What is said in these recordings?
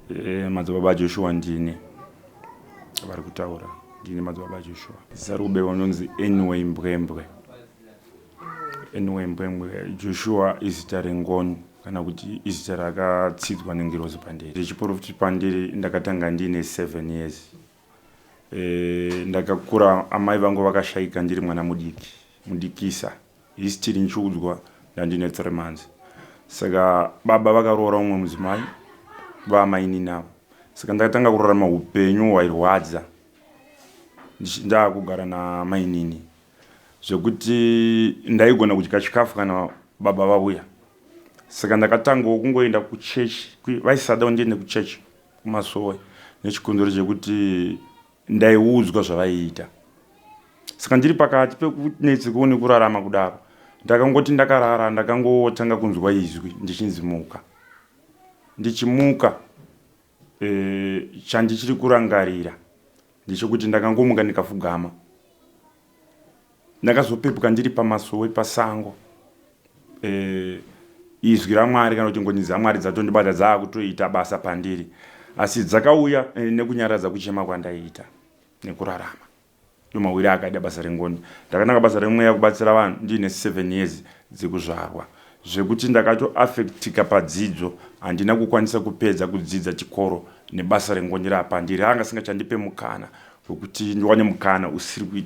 Eh, madzibaba ajoshua ndini vari kutaura ndini madzibaba ajoshua zita rekubewa unonzi anyway mbwembwe anyway mbwembwe joshua izita rengono kana kuti izita rakatsidzwa nengirozi pandiri ndichiporofiti pandiri ndakatanga ndiine seven years Eh, ndakakura amai vangu vakashaika ndiri mwana mudiki mudikisa history ndichiudzwa ndandine three months saka baba vakaroora umwe mudzimai vaamaininavo saka ndakatanga kurarama upenyu hwairwadza ndaakugara namainini zvekuti ndaigona kudya chikafu kana baba vauya saka ndakatangawo kungoenda kuchechi vaisada ndiende kuchechi kumasowe nechikonzero chekuti ndaiudzwa zvavaiita saka ndiri pakati pekunetseko nekurarama kudaro ndakangoti ndakarara ndakangotanga kunzwa izwi ndichinzi muka ndichimuka e, chandichiri kurangarira Ndechekuti ndakangomuka ndikafugama. Ndakazopepuka ndiri pamasowe pasango. Eh, izwi raMwari kana kuti ngoni dzaMwari dzatondibata dzaakutoita basa pandiri. Asi dzakauya eh, nekunyaradza kuchema kwandaiita nekurarama. Ndomawiri akaida basa rengoni. Ndakananga basa remweya kubatsira vanhu ndiine 7 years dzekuzvarwa. zvekuti ndakatoaffectika padzidzo handina kukwanisa kupedza kudzidza chikoro nebasa rengonye rapa ndiri anga singachandipe mukana wekuti ndiwane mukana usiri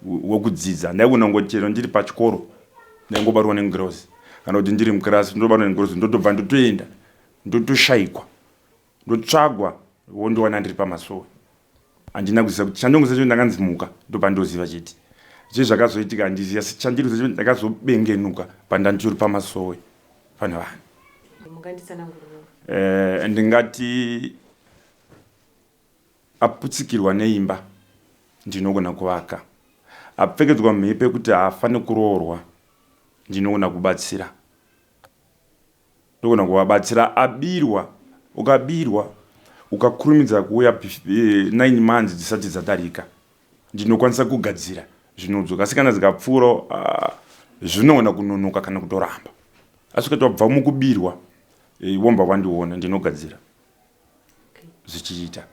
wekudzidza ndaigona ngoti chero ndiri pachikoro ndaingobatwa nengirozi kana kuti ndiri mukirasi ndobatwa nengirozi ndotobva ndotoenda ndotoshaikwa ndotsvagwa wondiwana ndiri pamasowe handina kuziva kuti chandongoziva chekuti ndakanzi muka ndopandoziva chete zve zvakazoitika handizivi asi chandiri kuziva chekuti ndakazobengenuka pandanditori pamasowe pane vanhu eh, ndingati aputsikirwa neimba ndinogona kuvaka apfekedzwa mhepo yekuti haafanire kuroorwa ndinogona kubatsira Ndogona kuvabatsira abirwa ukabirwa ukakurumidza kuuya nine months dzisati dzadarika ndinokwanisa kugadzira zvinodzoka asi kana dzikapfuurawo ah, zvinogona kunonoka kana kutoramba asi ukati wabva mukubirwa eh, womba wandiona ndinogadzira zvichiita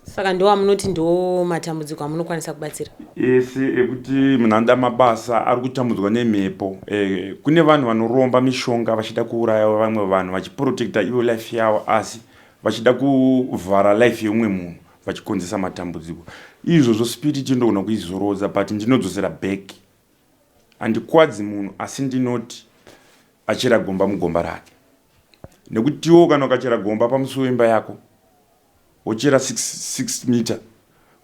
saka ndo amunoti ndo matambudziko amunokwanisa kubatsira ese ekuti munhu anoda mabasa ari kutambudzwa nemhepo e, kune vanhu vanoromba mishonga vachida kuuraya vamwe vanhu vachiprotecta ivo life yavo asi vachida kuvhara life yeumwe munhu vachikonzesa matambudziko izvozvo spirit inogona kuizorodza but ndinodzosera back handikwadzi munhu asi ndinoti achera gomba mugomba rake nekutiwo kana ukachera gomba pamusi wemba yako wochera 6 mita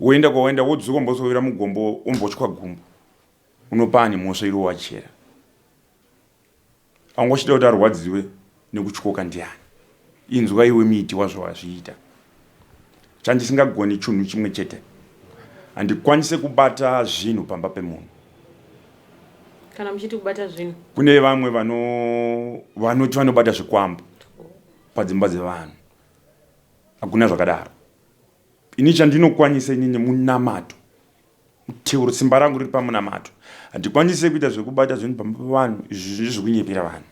woenda kwawaenda wodzoka umbosovera mugombo umbotshwa gumbo unopaa nemhosva iro wachera angwachida kuti arwadziwe nekutyoka ndiani inzwa iwe miti wazvo wazviita chandisingagoni chunhu chimwe chete handikwanise kubata zvinhu pamba pemunhu kana muchiti kubata zvinhu kune vamwe vano vanoti vanobata zvikwambo padzimba dzevanhu hakuna zvakadaro ini chandinokwanisa inini munamato teuro simba rangu riri pamunamato handikwanise kuita zvekubata zvinhu pamba pevanhu izvi zvizvi kunyepera vanhu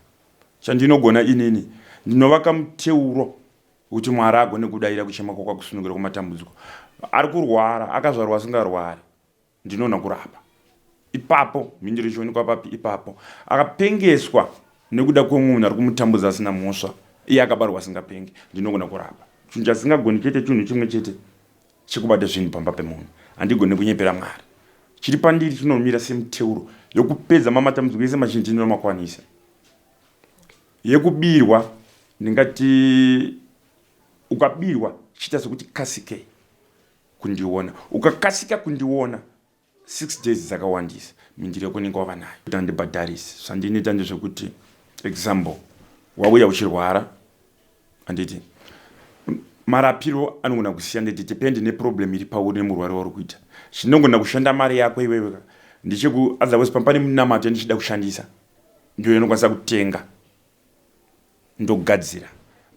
chandinogona inini ndinovaka muteuro Uti Mwari agone kudaira kuchema kwakwakusunungura kwamatambudziko. Ari kurwara, akazvarwa asingarwari. Ndinona kurapa. Ipapo, mhinduro ichionekwa papi? Ipapo. Akapengeswa nekuda kwemunhu ari kumutambudza asina mhosva. Iye akabarwa asingapenge. Ndinogona kurapa. Chinhu chasingagoni chete chinhu chimwe chete chekubata zvinhu pamba pemunhu. Handigone kunyepera Mwari. Chiri pandiri chinomira semiteuro yokupedza mamatambudziko ese mazhinji ndinomakwanisa. Yekubirwa ndingati ukabirwa chiita sekuti kasikei kundiona ukakasika kundiona six days dzakawandisa mindiro yekunenge wava nayo kuti andibhadharisi zvandinoita ndezvekuti example wauya uchirwara anditi marapiro anogona kusiya nditi depend neproblem iri pauri nemurwari wauri kuita chinogona kushanda mari yako iwewe ndichekuotherwise pamba pane munamato yandichida kushandisa ndiyo inokwanisa kutenga ndogadzira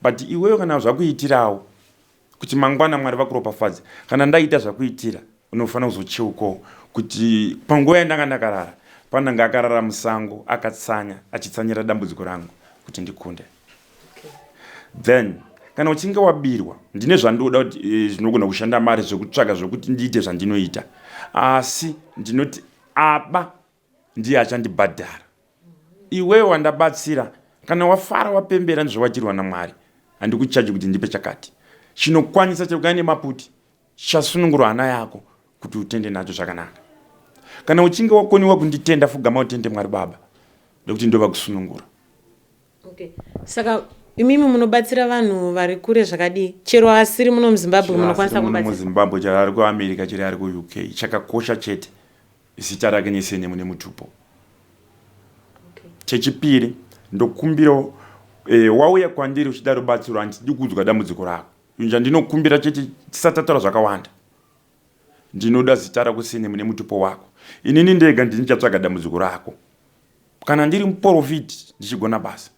but iwewe kana zvakuitirawo kuti mangwana mwari vakuropafadze kana ndaita zvakuitira unofanira kuzocheukawo kuti panguva yandanga ndakarara pananga akarara musango akatsanya achitsanyira dambudziko rangu kuti ndikunde then kana uchinge wabirwa ndine zvandoda kuti eh, zvinogona kushanda mari zvekutsvaga zvekuti ndiite zvandinoita asi ndinoti aba ndiye achandibhadhara iwewe wandabatsira kana wafara wapembera ndizvawajirwa namwari handikuchaji kuti ndipe chakati chinokwanisa chekugana nemaputi chasunungurwa hana yako kuti utende nacho zvakanaka kana uchinge wakoniwa kunditenda fugama utende mwari baba nekuti ndova kusunungura okay. saka imimi munobatsira vanhu vari kure zvakadii chero asiri muno muzimbabwe munokwanisa kumubatsira muzimbabwe chero ari kuamerica chero ari kuuk chakakosha chete Zita rake nesenemu nemutupo. Okay. Chechipiri ndokumbirawo e, wauya kwandiri uchida rubatsiro handidi kuudzwa dambudziko rako inja ndinokumbira chete tisatataura zvakawanda ndinoda zita rako sene mune mutupo wako inini ndega ndinichatsvaga dambudziko rako kana ndiri muporofiti ndichigona basa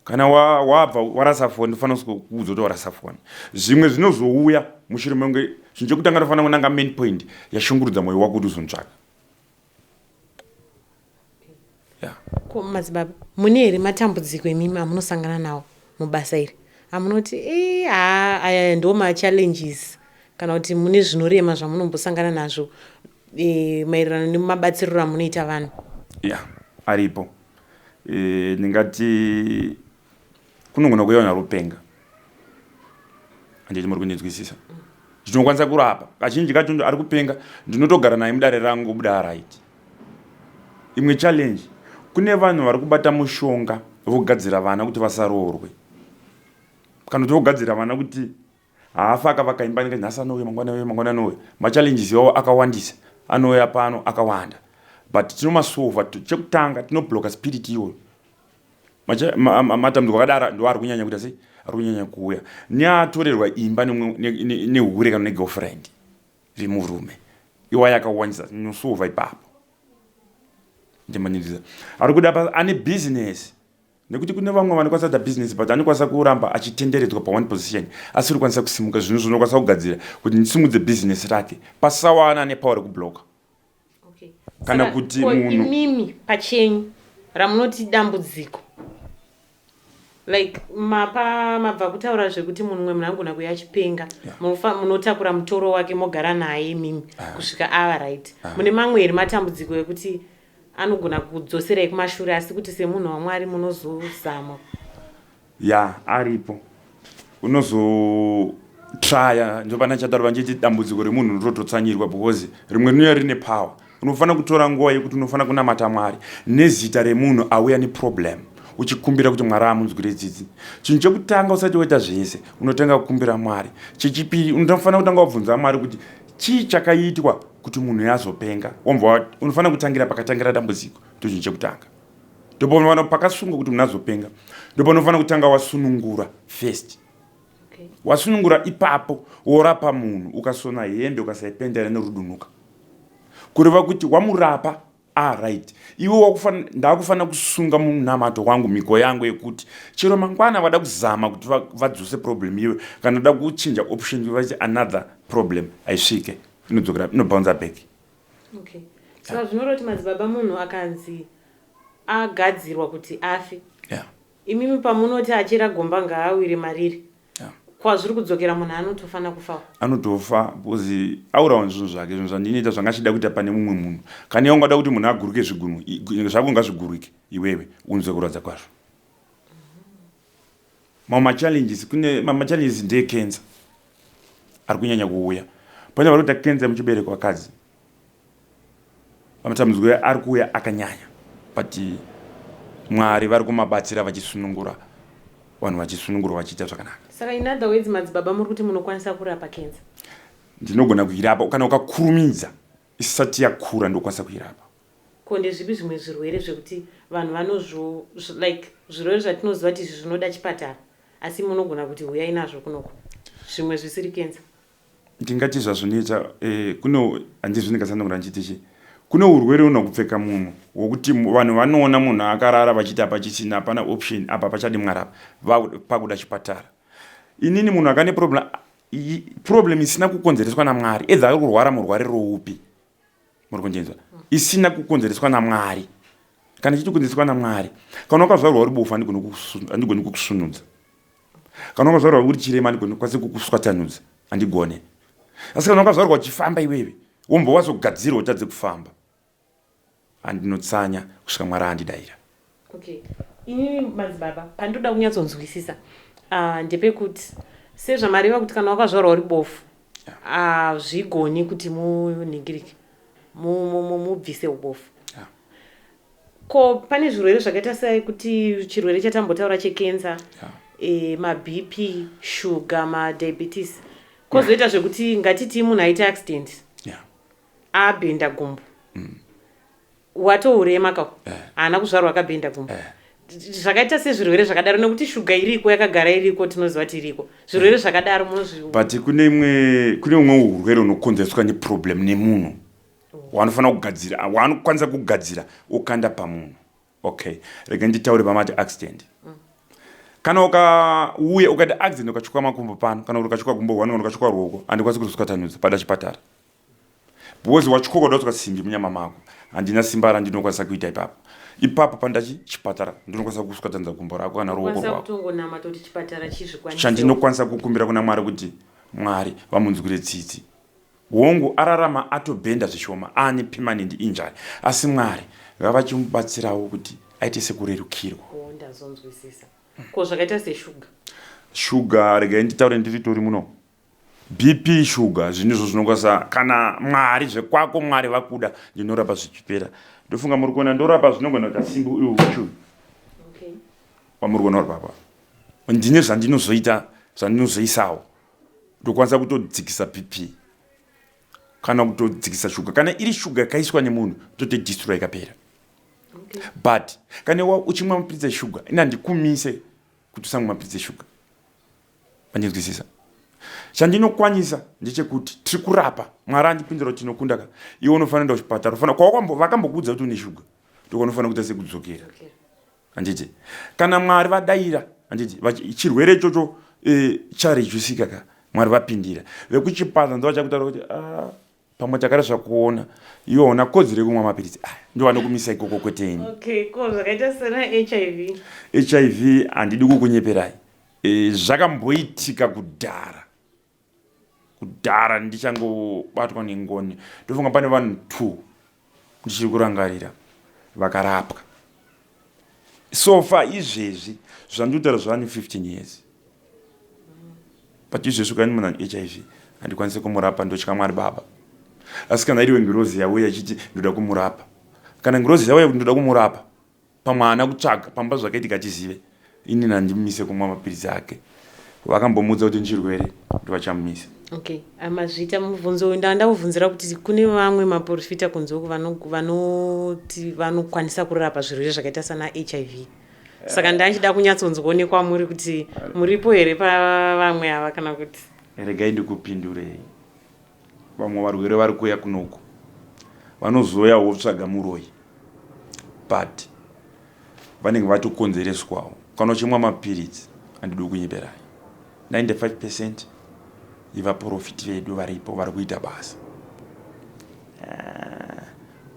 kana wabva wa, warasa foni unofanira kuudza kuti warasa foni zvimwe zvinozouya mushure mekunge chinhu chekutanga tofanira kunanga main point yashungurudza mwoyo wako kuti uzontsvaka ko madzibaba mune here matambudziko emimi amunosangana nawo mubasa iri amunoti eh, haa aya ndo machallenges kana kuti mune zvinorema zvamunombosangana nazvo e, maererano nemabatsiriro amunoita vanhu ya yeah, aripo Eh, ndingati kunogona kuve vanhu vari kupenga handiti muri kundinzwisisa zvinokwanisa kurapa kazhinji kacho ari kupenga ndinotogara naye mudare rangu buda araiti imwe challenge kune vanhu vari kubata mushonga vogadzira vana kuti vasaroorwe kana kuti vogadzira vana kuti Haafi akavaka imba inenge nhasi anouya mangwana auya mangwana anouya. Machallenges iwawo akawandisa anouya pano akawanda but tinomasova. Chekutanga tinobloka spirit iyoyo matambudziko akadaro ndo ari kunyanya kuita sei ari kunyanya kuuya neatorerwa imba nehure kana negirlfriend vemurume iwaye akawandisa tinosova ipapo ndimaniriza ari kuda ane business nekuti kune vamwe vanokwanisa kuita business but anokwanisa kuramba achitenderedzwa paone position asiri kwanisa kusimuka zvinhu zvinokwanisa kugadzira kuti ndisimudze business rake pasawana ane power rekubloka okay. kana Saka, kuti munhu imimi pachenyu ramunoti dambudziko like mapa mabva kutaura zvekuti munhu mwe munangona kuya achipenga yeah. munotakura mutoro wake mogara naye imimi ah. kusvika ava right ah. mune mamwe here matambudziko ekuti Anogona kukudzoserai kumashure asi kuti semunhu waMwari munozozama. Yeah, aripo. Unozo traya ndopana chataura vanjeti dambudziko remunhu ndotototsanyirwa because rimwe rinouya rine power. Unofanira kutora nguva yekuti unofanira kunamata Mwari nezita remunhu auya neproblem uchikumbira kuti Mwari amunzwire tsitsi. Chinhu chekutanga usati waita zvese unotanga kukumbira Mwari. Chechipiri unofanira kutanga wabvunza Mwari kuti Chii chakaitwa kuti munhu uyo azopenga? Wambova wati unofanira kutangira pakatangira dambudziko, ndochinhu chekutanga. Ndopaunofanira pakasungwa kuti munhu azopenga, ndopaunofanira kutanga wasunungura first. Wasunungura ipapo worapa munhu, ukasona hembe ukasaipenda inorudunuka, kureva kuti wamurapa Ah right, iwe wakufana ndakufanira kusunga munamato wangu mhiko yangu yekuti chero mangwana vada kuzama kuti vadzose problem iwe kana da kuchinja option iwe vachi another problem aisvike inodzokera inobouncer back. Okay. Saka zvinoroti madzibaba munhu akanzi agadzirwa kuti afe. Yeah. Imimi pamunoti achera gomba ngaawire mariri kwazviri kudzokera munhu anotofana kufawo anotofa because aurawa nezvinhu zvake zvinhu zvandinoita zvanga achida kuita pane mumwe munhu kana iwe ungada kuti munhu aguruke zvigunwe zvako ngazvigurike iwewe unzwe kurwadza kwazvo mamwe machallenges kune mamwe machallenges ndeye cancer ari kunyanya kuuya pane vari kuita cancer muchibereko vakadzi Matambudziko ari kuuya akanyanya but Mwari vari kumabatsira vachisunungura vanhu vachisunungurwa vachiita zvakanaka. Saka in other words madzibaba muri kuti munokwanisa kurapa cancer? Ndinogona kuirapa kana ukakurumidza isati yakura ndokwanisa kuirapa. Ko ndezvipi zvimwe zvirwere zvekuti vanhu vanozvo like zvirwere zvatinoziva kuti izvi zvinoda chipatara asi munogona kuti huyai nazvo kunoku zvimwe zvisiri cancer? Ndingati zvazvinoita kuno handizvo ndingatsanangura ndichiti chi kuno urwere uno kupfeka munhu wokuti vanhu vanoona munhu akarara vachiti apa chisina hapana option apa pachadi mwari apa pakuda chipatara inini munhu akane problem problem isina kukonzereswa namwari edza ari kurwara murwari roupi muri kunjenzwa isina kukonzereswa namwari kana chiti kukonzereswa namwari kana wakazvarwa uri bofu andigoni kukusunudza kana wakazvarwa uri chirema andigoni kwasi kukuswatanudza andigone asi kana wakazvarwa uchifamba iwewe wombowaso gadzirwa utadze kufamba Andinotsanya kusvika Mwari andidaira. Okay. Inini madzibaba pandinoda kunyatsonzwisisa uh, ndepekuti sezvamareva kuti kana wakazvarwa uri bofu hazvigoni uh, kuti munhingirike mubvise mu, mu, ubofu yeah. ko pane zvirwere zvakaita sekuti chirwere chatambotaura chekensa yeah. e, eh, mabp shuga madiabetes kozoita yeah. zvekuti ngatitii munhu aita accident yeah. abhenda gumbo mm. watourema ka eh. haana kuzvarwa akabhenda gumbo eh. zvakaita sezvirwere zvakadaro nekuti shuga iriko yakagara iriko tinoziva kuti iriko zvirwere eh. zvakadaro munozviu but kune imwe kune umwe urwere unokonzereswa neproblem nemunhu oh. waanofanira kugadzira waanokwanisa kugadzira ukanda pamunhu okay rega nditaure pamati accident mm. kana ukauya ukati accident ukachuka makumbo pano kana kuti ukachuka gumbo one kana ukachuka ruoko andikwanisi kuzoswatanudza pada chipatara Because wachikokoda kutswa simbi munyama mako. Handina simba randinokwanisa kuita ipapo. Ipapo pandachi chipatara ndinokwanisa kuswatanza gumbo rako kana ruoko Kwanisa rwako. kutongonama toti chipatara chizvikwanise. Chandinokwanisa kukumbira kuna Mwari kuti Mwari vamunzwire tsitsi. Hongu ararama atobhenda zvishoma ane permanent injury asi Mwari ngavachimubatsirawo kuti aite sekurerukirwa. Oh ndazonzwisisa. Ko zvakaita seshuga? Shuga regai nditaure ndiritori muno. BP sugar zvinhu izvo zvinokwanisa kana mwari zvekwako mwari vakuda ndinorapa zvichipera ndofunga muri kuona ndorapa zvinogona kuita simbi uyu uchu wamuri kuona uri papa ndine zvandinozoita zvandinozoisawo ndokwanisa kutodzikisa BP kana kutodzikisa shuga kana iri shuga yakaiswa nemunhu tote distroy ikapera but kana uchimwa mapiritsi eshuga ina ndikumise kuti usamwa mapiritsi eshuga Mandinzwisisa? Chandinokwanisa ndechekuti tiri kurapa. Mwari andipindura kuti tinokunda ka. Iwe unofanira kuenda kuchipatara. Unofanira kwawakambo vakambokuudza kuti une shuga. Ndiko unofanira kuita sekudzokera. Anditi kana Mwari vadaira anditi chirwere ichocho e, charejusika ka. Mwari vapindira. Vekuchipatara ndovachakutaura kuti ah pamwe takada zvakuona iwe hauna kodzero yekumwa mapiritsi aya ndo vanokumisa ikoko kweteni okay, ko zvakaita sena hiv hiv handidi kukunyeperai e, zvakamboitika kudhara kudhara ndichangobatwa nengoni ndofunga pane vanhu two ndichiri kurangarira vakarapwa sofa izvezvi zvandikutaura zvava ne15 years but izvezvi ukaini munhu ane hiv handikwanise kumurapa ndotya mwari baba asi kana iriwe ngirozi yauya ichiti ndoda kumurapa kana ngirozi yauya kuti ndoda kumurapa pamwe haana kutsvaga pamba zvakaitika achizive ini nandimise kumwa mapiritsi ake vakambomuudza kuti ndichirwere kuti vachamumisa okay amazvita mubvunzo uyu ndava ndakubvunzira kuti kune vamwe maporofita kunze uku vanoti vanokwanisa kurapa zvirwere zvakaita sana hiv saka ndava ndichida kunyatsonzwonekwa muri kuti muripo here pavamwe ava kana kuti regai ndikupindurei Vamwe varwere vari kuuya kunoku vanozouyawo votsvaga muroyi but vanenge vatokonzereswawo kana uchimwa mapiritsi andidi kunyeberai 95 percent yevaprofiti vedu varipo vari kuita basa ah,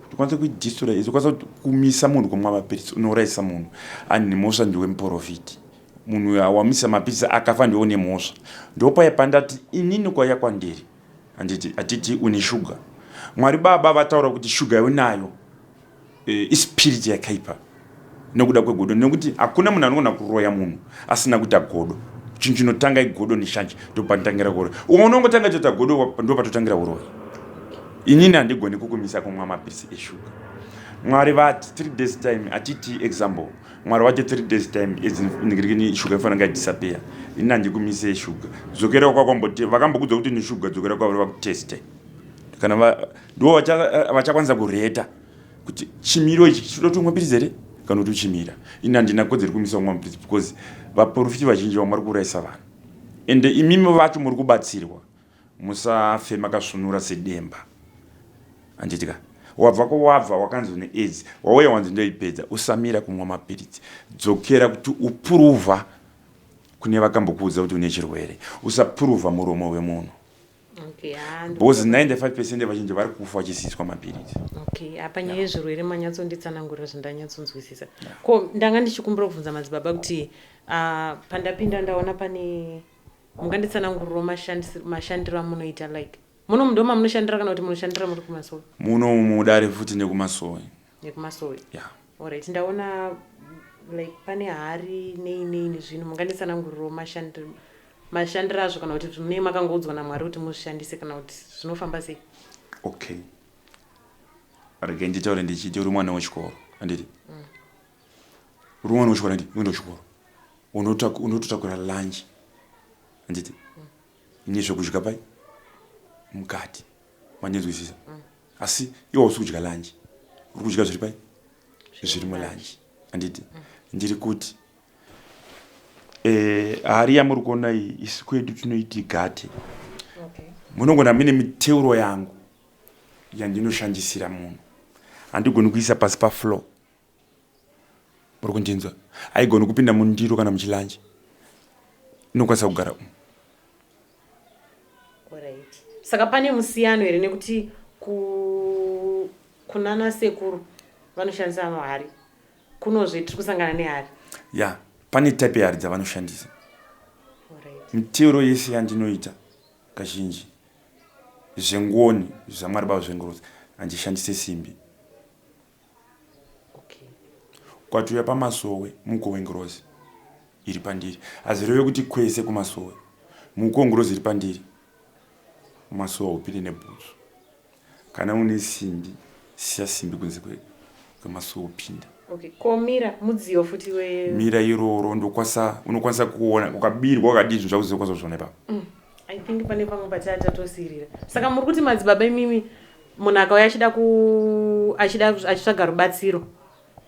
tikwanisa kuidistora izokwanisa kumisa munhu kumwa mapiritsi unourayisa munhu and nemosva ndiwe muprofiti Munhu uyo awamisa mapizza akafa ndiwe une mhosva. Ndopaya pandati inini kwaiya kwandiri handiti hatiti une sugar. Mwari baba vataura kuti sugar yaunayo e, ispirit yakaipa nekuda kwegodo nekuti hakuna munhu anogona kuroya munhu asina kuita godo chinhu chinotanga igodo neshanje ndopanotangira kuroya umwe unongotanga toita godo ndopatotangira uroyi inini handigoni kukumisa kumwa mapirisi eshuga mwari vati three days time atiti example mwari wacho three days time idziningirikini shuga ifana nga disappear ini handikumise shuga dzokera kwakwamboti vakambokudza kuti neshuga dzokera kwavari vakuteste kana ndivo vachakwanisa kureta kuti chimiro ichi chinoda kuti umwe pirizi here kana kuti uchimira ini handina kodzeri kumisa umwe mupirizi because vaporofiti vazhinji vamwari kuurayisa vanhu ende imimi vacho muri kubatsirwa Musafe makasvunura sedemba handiti ka? Wabva kwawabva wakanzi une aids wauya wanzi ndoipedza. Usamira kumwa mapiritsi. Dzokera kuti upuruva kune vakambokuudza kuti une chirwere. Usapuruva muromo wemunhu. Okay, ah, because 95 percent vazhinji vari kufa vachisiiswa mapiritsi okay apa nyaya yezvirwere manyatsonditsanangurira zvindanyatsonzwisisa ko ndanga ndichikumbira kubvunza madzibaba kuti uh, pandapinda ndaona pane Munganditsanangurirawo mashandisiro mashandiro amunoita like munomu ndomamunoshandira kana kuti munoshandira muri kumasowe? Munomu mudare futi nekumasowe. Nekumasowe? Yeah. Alright ndaona like pane hari nei nei nezvinhu munganditsanangurirawo mashandiro mashandiro azvo kana kuti munee makangoudzwa naMwari kuti muzvishandise kana kuti zvinofamba sei? Okay. Rege nditaure ndichiti uri mwana wechikoro handiti? Mm. rumwe unoshora ndi unoenda kuchikoro unototakura lunch handiti ini zvekudya pai mukati mandinzwisisa mm. asi iwo usi kudya lunch uri kudya zviri pai zviri mulunch handiti mm. ndiri kuti eh, hari yamuri kuona iyi isi kwedu tinoiti gate munogona mine miteuro yangu yandinoshandisira munhu handigoni kuisa pasi pafloor muri kundinzwa haigoni kupinda mundiro kana muchilanje inokwanisa kugara umu saka pane musiyano here nekuti ku kunana sekuru vanoshandisa mahari kunozve tiri kusangana nehari ya yeah. pane type yehari dzavanoshandisa miteuro yese yandinoita kazhinji zvengoni zvamwari bavo zvengorodzi handishandise simbi Kwatuya pamasowe mukowengirozi iri pandiri hazvireve kuti kwese kumasowe mukowengirozi iri pandiri masowe haupinde nebhutsu kana une simbi siya simbi kunze kwemasowe upinda Okay. Ko mira mudziyo futi we mira iroro ndokwasa unokwanisa kuona ukabirwa ukadii zvinhu zvako zvinokwanisa kuzviona ipapo. Mm. I think pane pamwe pachatatotsirira. Saka muri kuti madzibaba imimi Munhu akauya achida ku achida achitsvaga rubatsiro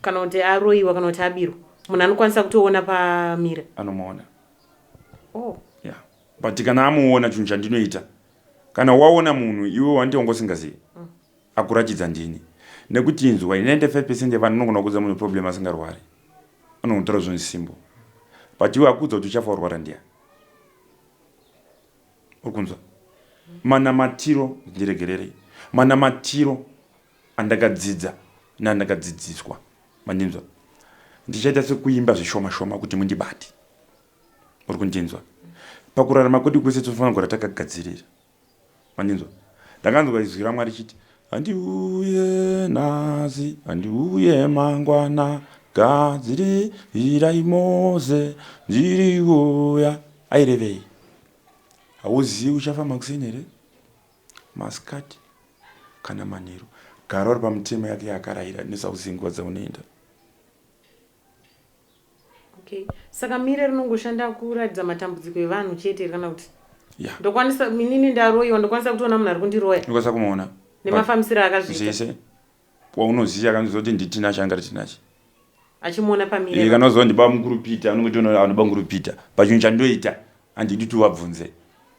kana kuti aroiwa kana kuti abirwa munhu anokwanisa kutoona pamira anomuona oh. yeah. but kana amuona chinhu chandinoita kana waona munhu iwe wanti wanga usingazivi mm. akuratidza ndini nekuti inzwa 95 percent yevanhu anogona kuudza munhu problem asingarwari anonotaura zvinhu simbo but iwe akuudza kuti uchafa warwara ndiya Uri kunzwa? Manamatiro, ndiregererei, manamatiro andakadzidza neandakadzidziswa. Mandinzwa? Ndichaita sekuimba zvishoma shoma kuti mundibate. Uri kundinzwa? Pakurarama kwedu kwese tinofanira kugara takagadzirira. Mandinzwa? Ndakanzwa izwi raMwari chiti, Handiuye nhasi, handiuye mangwana, gadzirirai Moze, ndiri kuuya. Airevei? Hauzivi uchafa makuseni here, masikati kana manheru? Gara uri pamutemo yake yaakaraira nesauzingwa dzaunoenda. Okay. Saka mire rinongoshanda kuratidza matambudziko evanhu chete here kana kuti Yeah. ndokwanisa minini ndaroyiwa ndokwanisa kutoona munhu ari kundiroya ndokwanisa kumuona But nemafambisiro akazviita zvese waunoziva kana unoziva kuti nditina changa ari tinachi achimuona Iye pamire kana uziva kuti ndiba mukuru pita unongoti uno- anoba mukuru pita pachinhu chandoita handidi kuti uvabvunze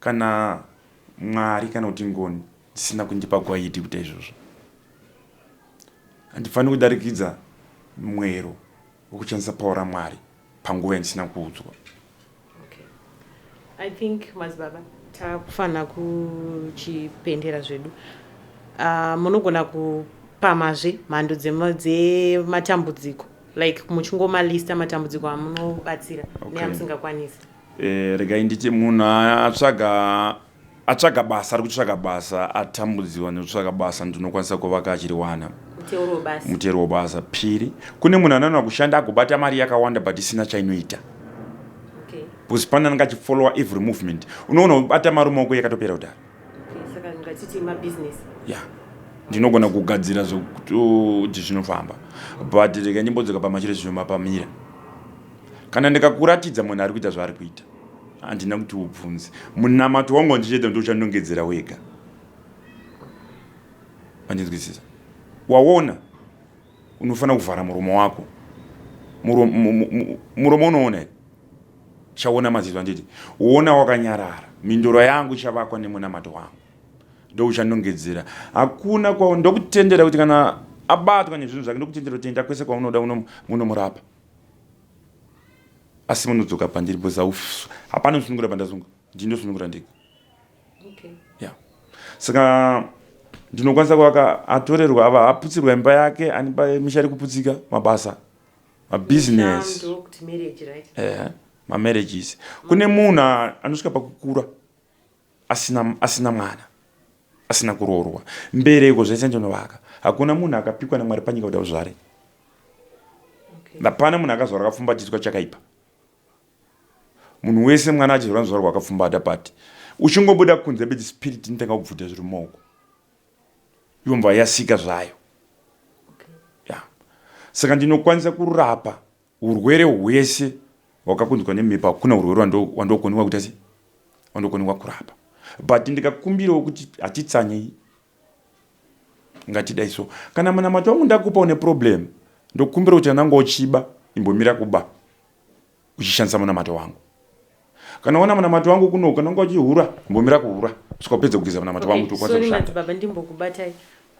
Kana Mwari kana kuti ngoni dzisina kundipa gwaidi kuita izvozvo, handifaniri kudarikidza mwero wokuchandisa pauro raMwari panguva yandisina kuudzwa. Okay. I think madzibaba takufanira kuchipendera zvedu. Uh, munogona kupamazve mhando dzematambudziko like muchingoma lista matambudziko amunobatsira okay. neamusingakwanisi Eh, regai nditi munhu atsvaga atsvaga basa ari kutsvaga basa atambudziwa nekutsvaga basa ndinokwanisa kuvaka achiriwana mutero webasa phiri kune munhu anoona kushanda agobata mari yakawanda but isina chainoita because pane anenge achifollowa every movement unoona ubata mari maoko yakatopera kudhara ya ndinogona kugadzira zvokuti zvinofamba but reka ndimbodzoka pamachiro zvinomapamira Kana ndikakuratidza munhu ari kuita zvaari kuita, handina kuti ubvunze. Munamato wangu wandichaita ndochandongedzera wega. Andinzwisisa. Waona, unofanira kuvhara muromo wako. Muromo unoona here? Chaona maziso anditi, woona wakanyarara. Mindoro yangu ichavakwa nemunamato wangu. Ndouchandongedzera. Hakuna kwa ndokutendera kuti kana abatwa nezvinhu zvake ndokutendera kuti enda kwese kwaunoda munomurapa. asi munodzoka pandiri because hapana kusunungura pandazunga ndii ndosunungura ndega okay. yeah. saka ndinokwanisa kuvaka atorerwa ava aputsirwa imba yake anipa misha ari kuputsika mabasa mabusiness ehe mamarriages kune munhu anosvika pakukura asina asina mwana asina kuroorwa mbereko zvaisa njonovaka hakuna munhu akapikwa namwari panyika kuti auzvare hapana munhu akazvarwa akapfumbatiswa chakaipa munhu wese mwana achizvarwa nzvarwa akapfumbata pati uchingobuda kunze bedzi spirit inotanga kubvuta zviri mumaoko yomva yasika zvayo ya saka ndinokwanisa kurapa Urwere hwese hwakakonzerwa nemhepo hakuna urwere wandokoniwa kuita sei wandokoniwa kurapa but ndikakumbirawo kuti hatitsanyei ngatidai so kana munamato wangu ndakupa une problem ndokumbira kuti ananga uchiba imbomira kuba uchishandisa munamato wangu kana wana munamato wangu kuno kana unga uchihura imbomira kuhura kusvika upedze kugeza munamato wangu kuti ukwanise kushanda baba ndimbokubatai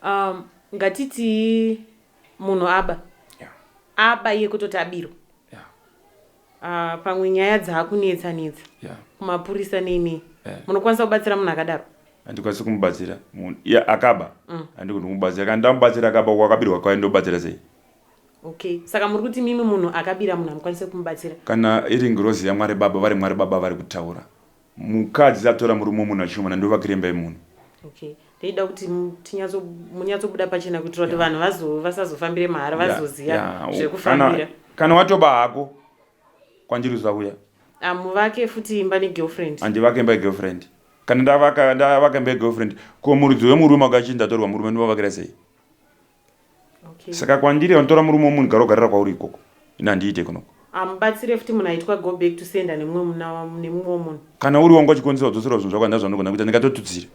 um, ngatiti munhu aba yeah. aba iye kutoti abirwa yeah. uh, pamwe nyaya dzaakunetsa netsa yeah. kumapurisa neinei yeah. munokwanisa kubatsira munhu akadaro handikwanisi kumubatsira munhu yeah, akaba mm. handikuti kumubatsira kana ndamubatsira akaba kwakabirwa kwaye ndobatsira sei okay saka muri kuti mimi munhu akabira munhu hamukwanise kumubatsira kana iri ngirozi yamwari baba vari mwari baba vari kutaura Mukadzi atora murume wemunhu achishomana ndovakira imba yemunhu. Okay. Ndoida kuti tinyatso munyatsobuda pachena kuitira kuti vanhu vazo vasazofambire mahara Yeah, vazoziva yeah. Kana, zvekufambira. kana watoba hako kwandiri usauya Ah, muvake futi imba negirlfriend. handivake imba yegirlfriend. Kana ndavaka ndavaka imba yegirlfriend ko muridzi wemurume wakachinja atorwa murume ndovavakira sei? okay. saka kwandiri vanotora murume womunhu gara ugarira kwauri ikoko ini handiite kunoko amubatsire futi munhu aitwa go back to senda nemumwe muna nemumwe womunhu kana uri wangu achikwanisa kudzosera zvinhu zvako handina zvanogona kuita ndingatotutsire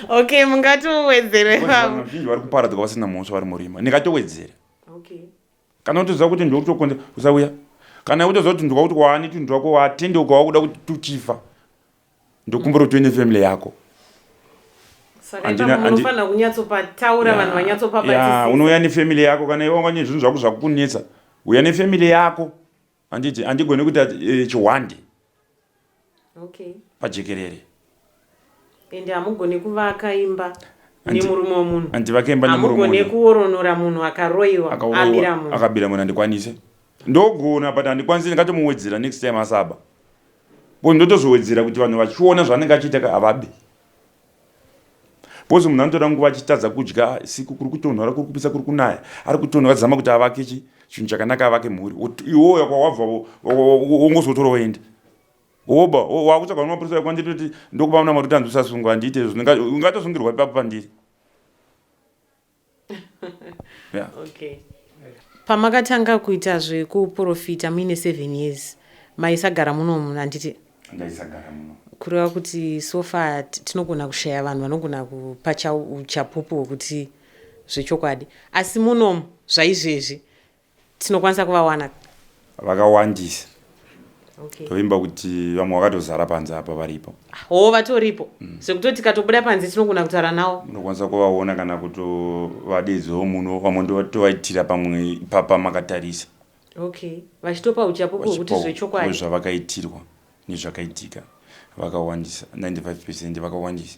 okay mungatowedzere vamwe vazhinji vari kuparadzwa vasina mhosva vari murima ndingatowedzere okay kana utoziva kuti ndiokutokonza usauya kana utoziva kuti ndikuda kuti waane tunhu twako watendeuka wakuda kuti tuchifa ndokumbura kuti uine family yako unouya nefamily yako kana iwe wanganyanya zvinhu zvako zvakukunetsa uya nefamily yako handiti handigoni kuita eh, chihwande pajekerere ende hamugone kuvaka imba nemurume wemunhu handivakembaamugone kuoronora munhu akaroiwa akabira munhu handikwanise ndogona but handikwanise ndingatomuwedzera next time asaba Ko ndotozowedzera kuti vanhu vachiona zvaanenge achiita ka havabi. Bozi munhu anotora nguva achitadza kudya siku kuri kutonhora kuri kupisa kuri kunaya ari kutonhora zama kuti avake chi chinhu chakanaka avake mhuri iwoya kwawabva wongozotora woenda woba wakutsvaga nemapurisa ekwanditoti ndokupa muna mari kuti anzwisasungwa handiite izvo ungatozungirwa ipapo pandiri yeah. okay. pamakatanga kuita zvekuprofita muine seven years maisagara muno munhu anditi ndaisagara muno kureva kuti sofa tinogona kushaya vanhu vanogona kupa chapupu wekuti zvechokwadi asi munomu zvaizvezvi tinokwanisa kuvawana vakawandisa tovimba okay. kuti vamwe vakatozara panze apa varipo hoo vatoripo mm. zvekutoti tikatobuda panze tinogona kutaura nawo unokwanisa kuvaona kana kutovadedzawo muno vamwe ndotovaitira pamwe ipapa makatarisa okay vachitopa uchapo kuti zvechokwadi zvavakaitirwa nezvakaitika vakawandisa 95 percent vakawandisa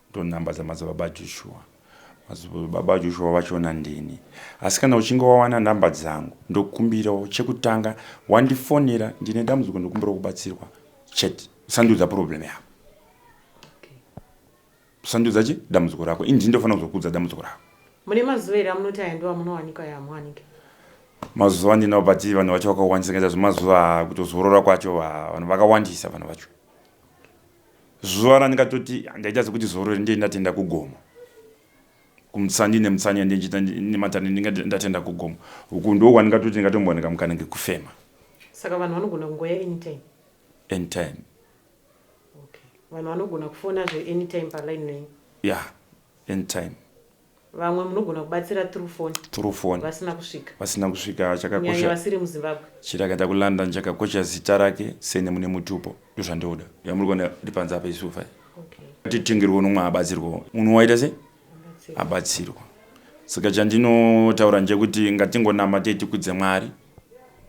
Ndonhamba dzamadzibaba Joshua. Madzibaba Joshua vachiona ndini. Asi kana uchinge wawana nhamba dzangu ndokumbirawo chekutanga wandifonera ndine dambudziko ndokumbirawo kubatsirwa chete. Usandiudza problem yako. Usandiudza chi dambudziko rako. Ini ndindofanira kuzokuudza dambudziko rako. Mune mazuva here amunoti aya ndiwo amunowanika aya amuwanike? Mazuva ndinawo but vanhu vacho vakawandisa ngendaa zvemazuva kutozorora kwacho vanhu vakawandisa vanhu vacho. Zuva randikatoti handaita sekuti zoro iri ndiye ndatenda kugomo kumutsanyi nemutsanyi andichita nematani ndinga ndatenda kugomo uku ndo wandingatoti ndingatombowanika mukana ngekufema saka vanhu vanogona kungoya anytime anytime okay vanhu vanogona kufona zve anytime paline nenyu ya yeah. anytime Vamwe munogona kubatsira through phone. Through phone. Vasina kusvika. Vasina kusvika chakakosha. Kunyanya vasiri muZimbabwe. Chirakaita kuLondon chakakosha zita rake sene mune mutupo. Ndozvandoda. Yamuri kuona ripanze apa isu fai. Okay. Titengerwo nomwe abatsirwo. Munhu waita sei? Abatsirwa. Saka chandinotaura ndechekuti ngatingonama tetikudze Mwari.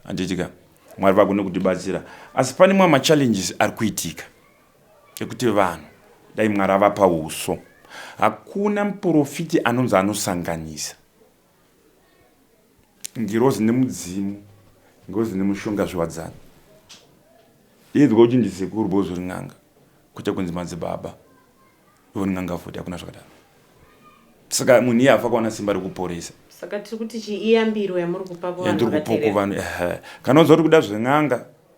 Anditika. Mwari vagone kutibatsira. Asi pane mwa machallenges ari kuitika. Ekuti vanhu dai Mwari avapa uso. Hakuna muporofiti anonzi anosanganisa ngirozi nemudzimu, ngirozi nemushonga zviwadzana. Inzwa kuti ndisekuru bozo rin'anga kwete kunzi madzibaba ivo rin'anga futi hakuna zvakadaro. Saka munhu iye afa kuwana simba rekuporesa. Saka tiri kuti chii iyambiro yamuri kupa kuvanhu vakaterera? Yandiri kupa kuvanhu ehe. Kana uziva kuti kuda zven'anga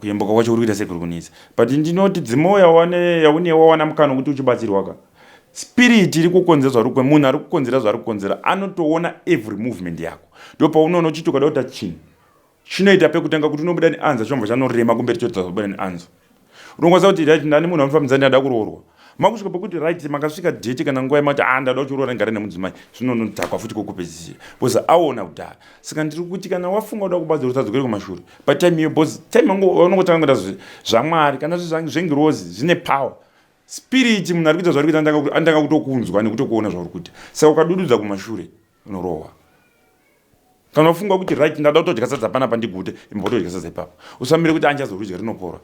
Kuyembuka kwacho kurikuita sei kurikunetsa but ndinoti dzimwe yaunewo wawana mukana wekuti uchibatsirwa ka spirit iri kukonzera zvarikwe munhu ari kukonzera zvaari kukonzera anotoona every movement yako ndo paunoona uchiti ukada kuta chinhu chinoita pekutanga kuti unobuda neanza chomva chanorema kumberi chotazobuda neanzo unokwanisa kuti right ndani munhu amufambisa ndinada kuroorwa makusvika pokuti right makasvika date kana nguva yemati a ndada uchiroora ndigare nemudzimai zvinonodhakwa futi kokupedzisira bcause aona kudhara saka ndiri kuti kana wafunga uda kubazi rusadzokere kumashure patime iyo bcause time anongotanga kuita zvamwari kana zvengirozi zvine power spirit munhu ari kuita zvaari kuita anotanga kutokunzwa nekutokuona zvauri kuita saka ukadududza kumashure unorohwa kana ufunga kuti right ndada kutodya sadza panapa ndigute imba utodya sadza ipapo usamire kuti anjazorudya rinopora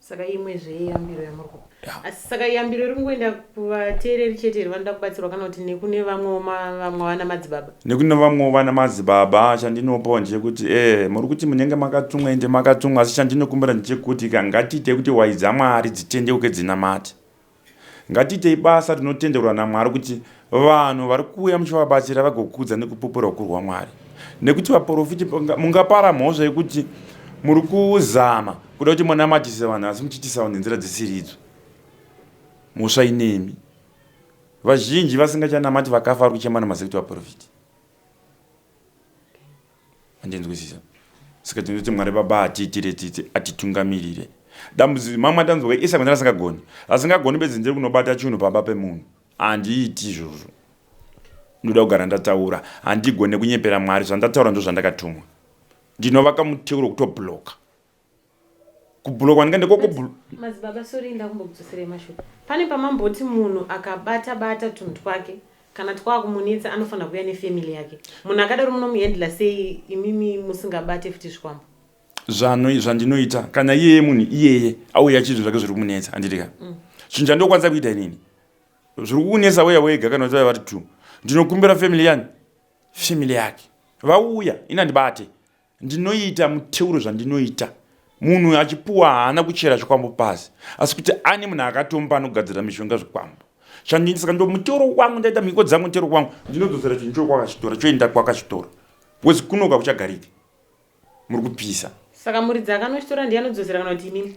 saka imwe zveyambiro yamuri kupa asi saka yambiro iri kungoenda kuvateereri chete here vanoda kubatsirwa kana kuti nekune vamwewo vamwe vana madzibaba nekune vamwewo vana madzibaba chandinopawo ndechekuti e eh, muri kuti munenge makatsumwa ende makatsumwa asi chandinokumbira ndechekuti ka ngatiite kuti wai dzamwari dzitendeuke dzinamati Ngatiitei basa tinotenderwa naMwari kuti vanhu vari kuuya muchivabatsira vagokudza nekupupura ukuru hwaMwari. Nekuti vaporofiti mungapara mhosva yekuti muri kuzama kuda kuti munamatise vanhu asi muchiitisawo nenzira dzisiridzo. Mhosva inemi. Vazhinji vasingachanamati vakafa vari kuchema nemasekiti vaporofiti. andinzwisisa saka tinoti mwari baba atiitire tsitsi atitungamirire dambudziko mamwe atanzwa kuti isakwenzera asingagoni asingagoni bedzi ndiri kunobata chinhu pamba pemunhu handiiti izvozvo ndoda kugara ndataura handigone kunyepera mwari zvandataura ndo zvandakatumwa ndinovaka muteuro kutobloka kubhulo kwanika ndiko kubhulo madzibaba sori ndakumbokudzoserai mashoko pane pamamboti munhu akabata bata tunhu twake kana twakumunetsa anofanira kuuya nefamily yake munhu akadaro munomuhandla sei imimi musingabate futi zvikwambo zvano zvandinoita kana iyeye munhu iyeye auya chizvinhu zvake zviri kumunetsa handiti ka mm. zvinhu chandinokwanisa kuita inini zviri kukunetsa weya wega kana vachivaya vari two ndinokumbira family yani family yake vauya ini handibate ndinoita muteuro zvandinoita munhu achipuwa haana kuchera zvikwambo pasi asi kuti ane munhu akatomba anogadzira mishonga zvikwambo chandisaka ndo muteuro wangu ndaita mhiko dzangu muteuro wangu ndinodzosera chinhu choo kwakachitora choenda kwakachitora wezi kunoka kuchagariki muri kupisa saka muridzi akanochitora ndiye anodzosera kana kuti inini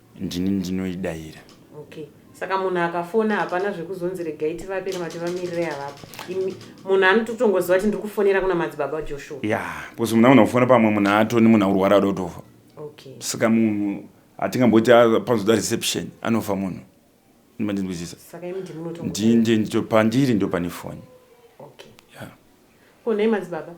Ndini ndinoidaira. Okay. Saka munhu akafona hapana zvekuzonzi regai tivape kana kuti vamirire havapo. Imi- Munhu anototongoziva kuti ndiri kufonera kuna madzibaba Joshua. Ya, because munhu anogona kufona pamwe munhu atoni munhu akurwara ada kutofa. Okay. Saka munhu hatingamboti ah, panozoda reception anofa munhu. Mandinzwisisa. Saka imi ndimi munotongo- Ndini ndiye ndito pandiri ndo pane foni. Okay. Ya. Ko nhai madzibaba.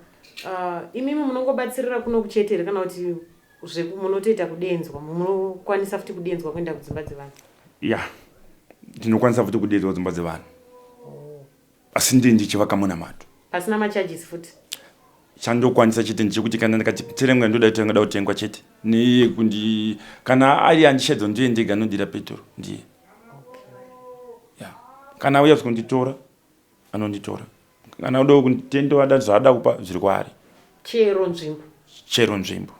Uh, imimi munongobatsirira kuno kuchete here kana kuti Zveku munotoita kudenzwa munokwanisa futi kudenzwa kuenda kudzimba dzevanhu? Yeah. Ndinokwanisa futi kudenzwa kudzimba dzevanhu. Oh. Asi ndini ndichivaka munamato. Pasina ma charges futi? chandokwanisa chete ndechekuti kana ndikati terengwa ndoda kuti ndingada kutengwa chete neye kundi kana ari andishedzo ndiye ndega anondira petoro ndiye kana auya zvikonditora anonditora kana kuda kutenda wada zvaada kupa zviri kwaari chero nzvimbo chero nzvimbo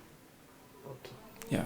okay. yeah.